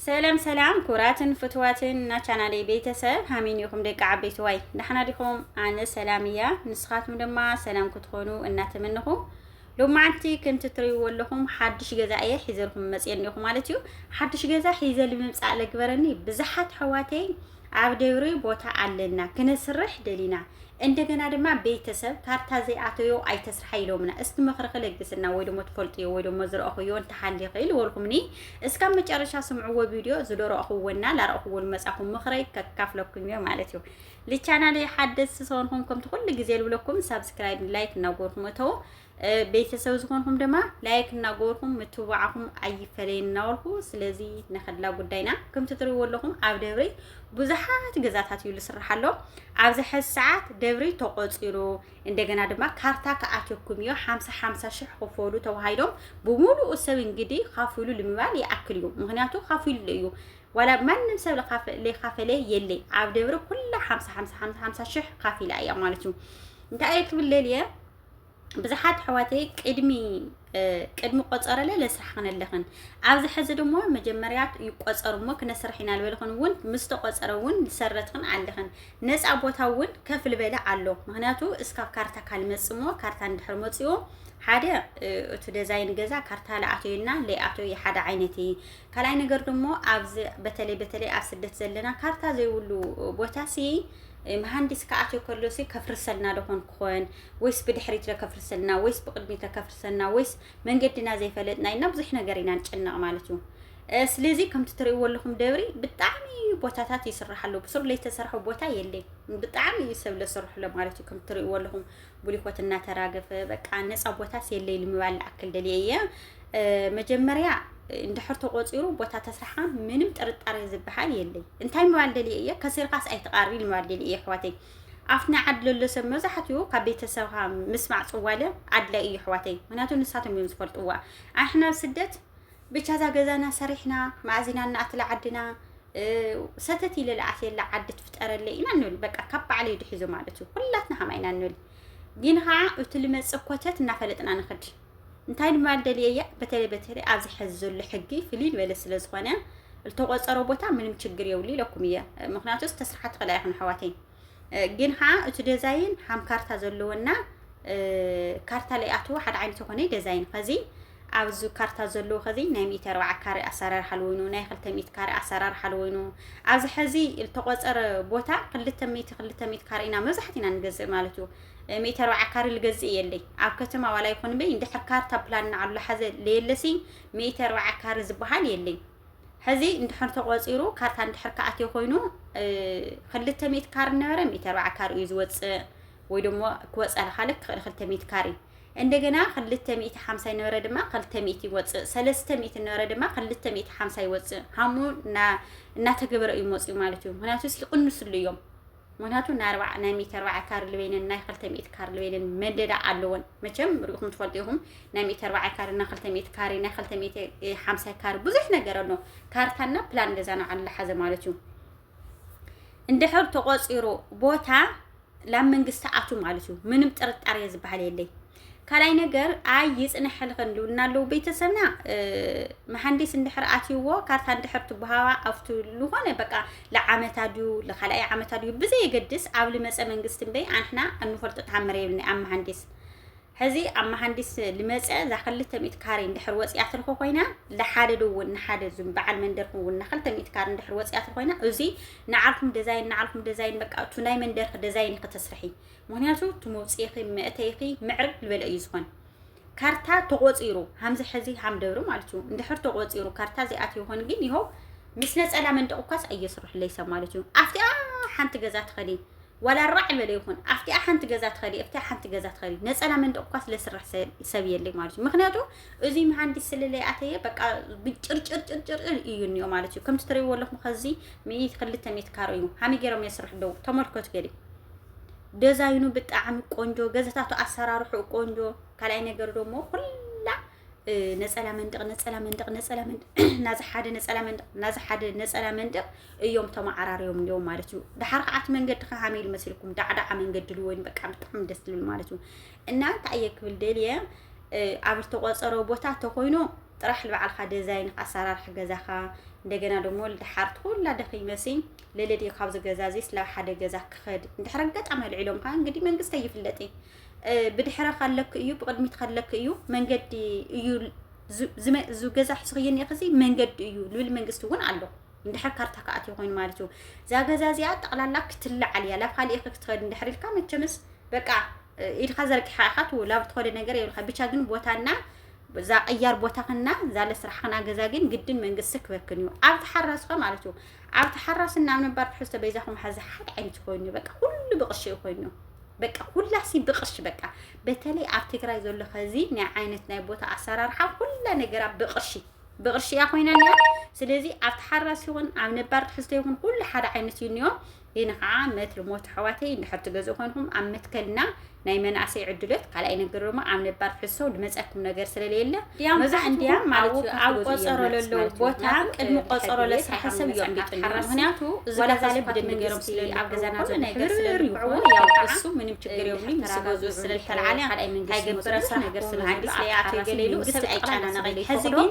ሰላም ሰላም ኩራትን ፍትዋትን እና ቻናለይ ቤተሰብ ሃሚን ይኹም ደቂ ዓበይቲ ዋይ ዳሕና ዲኹም ኣነ ሰላም እያ ንስኻትኩም ድማ ሰላም ክትኾኑ እናተመንኹ ሎማዓንቲ ከምቲ ትሪእዎ ኣለኹም ሓድሽ ገዛ እየ ሒዘልኩም መፅየ እኒኹ ማለት እዩ ሓድሽ ገዛ ሒዘ ልምምፃእ ለግበረኒ ብዙሓት ሕዋተይ ኣብ ደብሪ ቦታ ኣለና ክነስርሕ ደሊና እንደገና ድማ ቤተሰብ ካርታ ዘይኣተዮ ኣይተስርሓ ኢሎምና። እስቲ ምኽሪ ክለግስና ወይ ደሞ ትፈልጥዮ ወይ ደሞ ዝረእኹዮ እንተሃሊ ኽእል ወልኩምኒ እስካብ መጨረሻ ስምዕዎ ቪድዮ ዝደረእኹዎና ላረእኹዎ ልመጻኹም ምኽረይ ከካፍለኩም እዮ ማለት እዩ። ልቻናለይ ሓደስ ሰንኹም ከምቲ ኩሉ ግዜ ልብለኩም ሳብስክራይብ ላይክ እናጎርኩም እተው ቤተሰብ ዝኾንኹም ድማ ላይክ እናገበርኩም ምትብባዕኹም ኣይፈለየን እናበልኩ ስለዚ ነኸድላ ጉዳይና ከምቲ ትሪእዎ ኣለኹም ኣብ ደብሪ ብዙሓት ገዛታት እዩ ዝስራሕ ኣሎ ኣብዚ ሕዚ ሰዓት ደብሪ ተቆፂሩ እንደገና ድማ ካርታ ክኣትየኩም እዩ ሓምሳ ሓምሳ ሽሕ ክፈሉ ተባሂሎም ብምሉኡ ሰብ እንግዲህ ካፍሉ ልምባል ይኣክል እዩ ምክንያቱ ካፍሉ እዩ ዋላ ማንም ሰብ ለካፈለ የለ ኣብ ደብሪ ኩላ ሓምሳ ሓምሳ ሓምሳ ሽሕ ካፊላ እያ ማለት እዩ እንታይ እየ ክብለል እየ ብዙሓት ኣሕዋተይ ቅድሚ ቅድሚ ቆፀረለ ለስራሕ ክነለኽን ኣብዚ ሕዚ ድማ መጀመርያ ይቆፀር እሞ ክነስራሕ ኢና ልበልኽን እውን ምስ ተቆፀረ እውን ዝሰረትኽን ኣለኽን ነፃ ቦታ እውን ከፍ ልበለ ኣሎ ምክንያቱ እስካብ ካርታ ካልመፅ እሞ ካርታ እንድሕር መፅኡ ሓደ እቲ ደዛይን ገዛ ካርታ ለኣተዩና ለይኣተዩ ሓደ ዓይነት እዩ ካልኣይ ነገር ደሞ ኣብዚ በተለይ በተለይ ኣብ ስደት ዘለና ካርታ ዘይብሉ ቦታ ሲ መሃንዲስ ክኣትዮ ከሎ ሲ ከፍርሰልና ደኾን ክኾን ወይስ ብድሕሪት ለከፍርሰልና ወይስ ብቅድሚት ለከፍርሰልና ወይስ መንገድና ዘይፈለጥና ኢና ብዙሕ ነገር ኢና ንጭነቕ ማለት እዩ ስለዚ ከምቲ ትርእይዎ ኣለኹም ደብሪ ብጣዕሚ ቦታታት ይስራሕ ኣሎ ብሱር ለይተሰርሐ ቦታ የለይ ብጣዕሚ እዩ ሰብ ለሰርሕሎ ማለት እዩ ከም ትርእይዎ ኣለኹም ብሊኮት እናተራገፈ በቃ ነፃ ቦታስ የለይ ልምባል ልኣክል ደልየ እየ መጀመርያ እንድሕር ተቆፂሩ ቦታ ተስራሓ ምንም ጥርጣሬ ዝበሃል የለይ እንታይ ምባል ደልየ እየ ከሲርካስ ኣይትቃርቢ ምባል ደልየ እየ ኣሕዋተይ ኣብቲ ናይ ዓዲ ዘሎ ሰብ መብዛሕትኡ ካብ ቤተሰብካ ምስማዕ ፅዋለ ኣድላይ እዩ ኣሕዋተይ ምክንያቱ ንሳቶም እዮም ዝፈልጥዋ ኣሕና ስደት ብቻ እዛ ገዛና ሰሪሕና ማእዚና እናኣትላ ዓድና ሰተት ኢለ ልኣትየላ ዓዲ ትፍጠረለይ ኢና ንብል በቃ ካብ ባዕለይ ድሒዞ ማለት እዩ ኩላትና ከምኣ ኢና ንብል ግን ከዓ እቲ ልመፅእ ኮተት እናፈለጥና ንኽድ እንታይ ንባል ደልየያ በተለይ በተለይ ኣብዚ ሕዚ ዘሎ ሕጊ ፍልይ ዝበለ ስለ ዝኾነ ዝተቆፀሮ ቦታ ምንም ችግር የብሉ ኢለኩም እየ ምክንያቱ ተስርሓ ትኽእላ ኢኹም ኣሕዋተይ ግን ከዓ እቲ ደዛይን ሓም ካርታ ዘለዎና ካርታ ላይ ኣትዎ ሓደ ዓይነት የኮነ ደዛይን ከዚ ኣብዚ ካርታ ዘለዎ ከዚ ናይ ሚእቲ ኣርባዓ ካሬ ኣሰራርሓ ለወይኑ ናይ ክልተ ሚእቲ ካሬ ኣሰራርሓ ለወይኑ ኣብዚ ሕዚ ዝተቆፀረ ቦታ ክልተ ሚእቲ ክልተ ሚእቲ ካሬ ኢና መብዛሕት ኢና ንገዝእ ማለት እዩ ሚእቲ ኣርባዓ ካሬ ልገዝእ የለይ ኣብ ከተማ ዋላ ይኹን በይ እንድሕር ካርታ ፕላን ንዓሉ ሓዘ ለየለሲ ሚእቲ ኣርባዓ ካሬ ዝበሃል የለይ ሕዚ እንድሕር ተቖፂሩ ካርታ እንድሕር ክኣትዮ ኮይኑ ክልተ ሚእቲ ካር ነበረ ሚእቲ ኣርባዓ ካር እዩ ዝወፅእ ወይ ደሞ ክወፅእ ልካለ ክኽእል ክልተ ሚእቲ ካር እዩ እንደገና ክልተ ሚእቲ ሓምሳ ይነበረ ድማ ክልተ ሚእቲ ይወፅእ ሰለስተ ሚእቲ ነበረ ድማ ክልተ ሚእቲ ሓምሳ ይወፅእ ሃሙ እናተገበረ እዩ መፅኡ ማለት እዩ ምክንያቱ ይቕንስሉ እዮም ምክንያቱ ናይ ኣርባዓ ናይ ሚእቲ ኣርባዓ ካሪ ልበይንን ናይ ክልተ ሚእቲ ካሪ ልበይንን መደዳ ኣለወን መቸም ርኢኹም ትፈልጡ ኢኹም ናይ ሚእቲ ኣርባዓ ካሪ ናይ ክልተ ሚእቲ ካሪ ናይ ክልተ ሚእቲ ሓምሳ ካሪ ብዙሕ ነገር ኣሎ ካርታና ፕላን ገዛና ዓላ ሓዘ ማለት እዩ እንድሕር ተቆፂሩ ቦታ ላብ መንግስቲ ኣቱ ማለት እዩ ምንም ጥርጣሬ ዝበሃል የለይ ካልኣይ ነገር ኣይ ይፅነሐልኸን ዶ እናለው ቤተሰብና መሃንዲስ እንድሕር ኣትይዎ ካርታ እንድሕር ትበሃዋ ኣብቲ ዝኾነ በቃ ለዓመታ ድዩ ለካልኣይ ዓመታ ድዩ ብዘየገድስ ኣብ ልመፀ መንግስቲ እምበይ ኣንሕና እንፈልጦ ተሃምር የብልና ኣብ መሃንዲስ ሕዚ ኣብ መሃንዲስ ልመፀ እዛ ክልተ ሚእቲ ካሬ እንድሕር ወፂኣ ትርፎ ኮይና ለሓደ ዶ እውን ንሓደ ዙም በዓል መንደርኩም እውን ንክልተ ሚእቲ ካሬ እንድሕር ወፂኣ ትር ኮይና እዚ ንዓልኩም ደዛይን ንዓልኩም ደዛይን በቃ እቱ ናይ መንደርክ ደዛይን ክተስርሒ ምክንያቱ እቲ መውፅኢኺ መእተይኺ ምዕር ዝበለ እዩ ዝኾን ካርታ ተቆፂሩ ሃምዚ ሕዚ ሃምደብሪ ማለት እዩ እንድሕር ተቆፂሩ ካርታ ዘይኣትዮ ይኾን ግን ይኸው ምስ ነፀላ መንደቕ እኳስ ኣየስርሕለይ ሰብ ማለት እዩ ኣብቲኣ ሓንቲ ገዛ ትኸዲ ዋላ ራዕ ዝበለ ይኹን ኣብቲኣ ሓንቲ ገዛ ትኸዲ ኣብቲኣ ሓንቲ ገዛ ትኸዲ ነፀላ መንደቕ እኳ ስለ ስራሕ ሰብ የለይ ማለት እዩ ምክንያቱ እዚ መሃንዲስ ስለለይ ኣተየ በቃ ጭርጭርጭርጭር እዩ እኒኦ ማለት እዩ ከምቲ ትሪእዎ ኣለኹም ከዚ ሚኢት ክልተ ሚኢት ካሮ እዩ ሃመይ ገይሮም የስርሑ ደው ተመልከቱ ገሊ ደዛይኑ ብጣዕሚ ቆንጆ፣ ገዛታቱ ኣሰራርሑ ቆንጆ። ካልኣይ ነገር ደግሞ ኩላ ነፀላ መንደቅ ነፀላ መንደቅ ነፀላ መንደቅ ናዚ ሓደ ነፀላ መንደቅ ናዚ ሓደ ነፀላ መንደቅ እዮም ተመዓራርዮም እንዲዮም ማለት እዩ። ድሓር ከዓ እቲ መንገዲ ከዓ ከመይ ኢሉ መሲልኩም ዳዕዳዓ መንገዲ ኢሉ ወይም በቃ ብጣዕሚ ደስ ዝብል ማለት እዩ እና እንታይ እየ ክብል ደልየ ኣብ ዝተቆፀሮ ቦታ ተኮይኑ ጥራሕ ንባዕልካ ደዛይን ኣሰራርሕ ገዛኻ እንደገና ደግሞ ድሓር ኩላ ደኺመሲ ለለድየ ካብዚ ገዛ እዚስ ናብ ሓደ ገዛ ክኸድ እንድሕር ኣጋጣሚ ኣልዒሎም ከዓ እንግዲህ መንግስቲ ኣይፍለጥ እዩ ብድሕረ ካለክ እዩ ብቅድሚት ካለክ እዩ መንገዲ እዩ ዝገዛ ሕስኽየኒ ኸዚ መንገዲ እዩ ልብል መንግስቲ እውን ኣሎ እንድሕር ካርታ ከኣት ይኮይኑ ማለት እዩ እዛ ገዛ እዚኣ ጠቕላላ ክትለዓል እያ ላብ ካልእ ኢኸ ክትኸድ እንድሕር ኢልካ መቸምስ በቃ ኢድካ ዘርጊሓ ኢኻ ትው ላብ ትኸደ ነገር የብልካ ብቻ ግን ቦታና እዛ ቅያር ቦታኽና እዛ ለስራሕኽና ገዛ ግን ግድን መንግስቲ ክበክን እዩ ኣብ ተሓረስኸ ማለት እዩ ኣብ ተሓራስን ናብ ነባር ትሕዝቶ በይዛኹም ሓዚ ሓደ ዓይነት ኮይኑ በቃ ኩሉ ብቅሺ እዩ ኮይኑ በቃ ኩላሲ ብቅሺ በቃ በተለይ ኣብ ትግራይ ዘሎ ከዚ ናይ ዓይነት ናይ ቦታ ኣሰራርሓ ኩላ ነገራ ብቅርሺ ብቅርሺ እያ ኮይና እኒኣ ስለዚ ኣብ ተሓራስ ይኹን ኣብ ነባር ትሕዝቶ ይኹን ኩሉ ሓደ ዓይነት እዩ እኒኦ ግን ከዓ መትል ሞት ኣሕዋተይ እንድሕር ትገዝኡ ኮንኩም ኣብ መትከልና ናይ መናእሰይ ዕድሎት ካልኣይ ነገር ድማ ኣብ ነባር ሕሰው ድመፀኩም ነገር ስለለየለ መብዛሕትኡ ማለት ኣብ ቆፀሮ ለለው ቦታ ቅድሚ ቆፀሮ ለስራሕ ሰብ እዮም ቢጥሉ ምክንያቱ እዚ ገዛ ልብድ ንገሮም ስለ ኣብ ገዛና ዘሎ ነገር ስለልኩዕዎ ያው እሱ ምንም ችግር የብሉ ምስ ገዝኡ ስለልተልዓለ ካልኣይ መንግስቲ ገበረ ስራሕ ነገር ስለሃዲስ ለያት ገሌሉ ሰብ ኣይጨናነቀይ ሕዚ ግን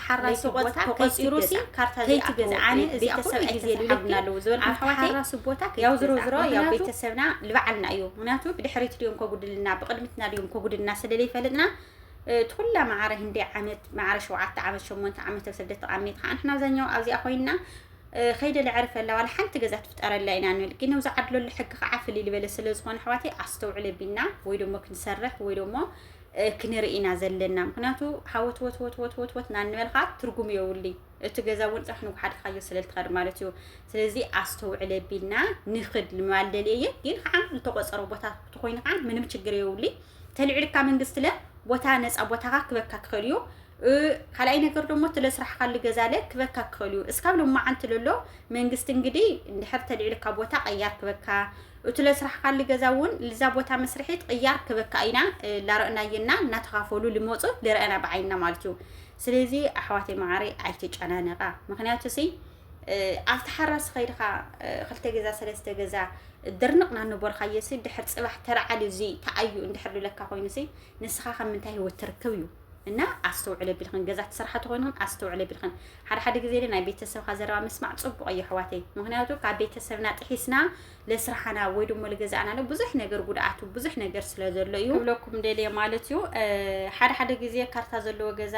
ሓራሲ ቦታ ከይትገዝኣ ከይትገዝኣኒ እዚኣ ኩሉ ግዜ ልብለኪ ኣብቲ ሓራሲ ቦታ ከይትገዝኣ ምክንያቱ ሰብና ልባዓልና እዩ ምክንያቱ ብድሕሪት ድዮም ከጉድልና ብቅድሚትና ድዮም ከጉድልና ስለለይፈልጥና እቲ ኩላ ማዕረ ህንደይ ዓመት ማዕረ ሸውዓተ ዓመት ሸሞንተ ዓመት ኣብ ስደት ተቃሚት ከዓ ንሕና ኣብዛኛው ኣብዚኣ ኮይንና ከይደ ልዕርፈላ ዋላ ሓንቲ ገዛ ትፍጠረላ ኢና ንብል ግን ኣብዚ ዓድለሉ ሕጊ ከዓ ፍልይ ዝበለ ስለዝኾነ ኣሕዋተይ ኣስተውዕለ ቢና ወይ ደሞ ክንሰርሕ ወይ ደሞ ክንርኢ ኢና ዘለና ምክንያቱ ሃወትወትወትወትወት ናንበልካ ትርጉም የውልይ እቲ ገዛ እውን ፅራሕ ንጉሓድካዮ ስለልትኸድ ማለት እዩ ስለዚ ኣስተውዕለ ቢልና ንክድ ልማልደል እየ ግን ከዓ ዝተቆፀሩ ቦታ ትኮይኑ ከዓ ምንም ችግር የውልይ ተልዕልካ መንግስት ለ ቦታ ነፃ ቦታካ ክበካ ክኸል እዩ ካልኣይ ነገር ደሞ ትለ ስራሕካ ልገዛለ ክበካ ክኸል እዩ እስካብ ሎማዓንቲ ለሎ መንግስት እንግዲህ እንድሕር ተልዕልካ ቦታ ቀያር ክበካ እቱ ለስራሕኻሊ ገዛ እውን ልዛ ቦታ መስርሒት ቅያር ክበካ ኢና ላረእናየና እናተኻፈሉ ልመፁ ልረአና ብዓይንና ማለት እዩ ስለዚ ኣሕዋተይ መዓረይ ኣይተጨናነቃ ምክንያቱ ሲ ኣብቲ ሓራስ ኸይድኻ ክልተ ገዛ ሰለስተ ገዛ ድርንቕ ናነበርካዮሲ ድሕር ፅባሕ ተረዓል እዚ ተኣዩ እንድሕር ልለካ ኮይኑሲ ንስኻ ካብ ምንታይ ህይወት ትርክብ እዩ እና ኣስተውዕለ ብልክን ገዛ ትሰርሓ ተኮይንክን ኣስተውዕለ ብልክን ሓደ ሓደ ግዜ ለ ናይ ቤተሰብካ ዘረባ ምስማዕ ጽቡቅ እዩ ኣሕዋተይ ምክንያቱ ካብ ቤተሰብና ጥሒስና ለስራሓና ወይ ደሞ ልገዛእና ለ ብዙሕ ነገር ጉድኣቱ ብዙሕ ነገር ስለ ዘሎ እዩ ክብለኩም ደልየ ማለት እዩ ሓደ ሓደ ግዜ ካርታ ዘለዎ ገዛ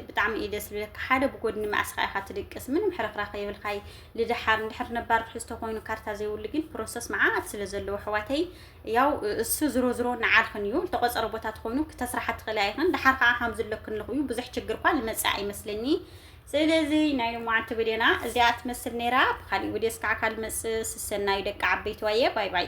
ብጣዕሚ እዩ ደስ ዝብለካ ሓደ ብጎድኒ መኣስካ ኢካ ትድቅስ ምንም ሕርክራ ከይብልካይ ልድሓር እንድሕር ነባር ትሕዝቶ ኮይኑ ካርታ ዘይብሉ ግን ፕሮሰስ መዓት ስለ ዘለዎ ኣሕዋተይ ያው እሱ ዝሮ ዝሮ ንዓልኽን እዩ ልተቆጸረ ቦታ ተኾይኑ ክተስራሓ ትኽእላ ኢኽን ድሓር ከዓ ሃም ዝለክን ልኹ እዩ ብዙሕ ችግር እኳ ልመጽእ ኣይመስለኒ ስለዚ ናይ ልማዓንቲ ብዴና እዚኣ ትመስል ነይራ ብካሊእ ውዴስ ከዓ ካልመጽእ ስሰናዩ ደቂ ዓበይትዋየ ባይ ባይ።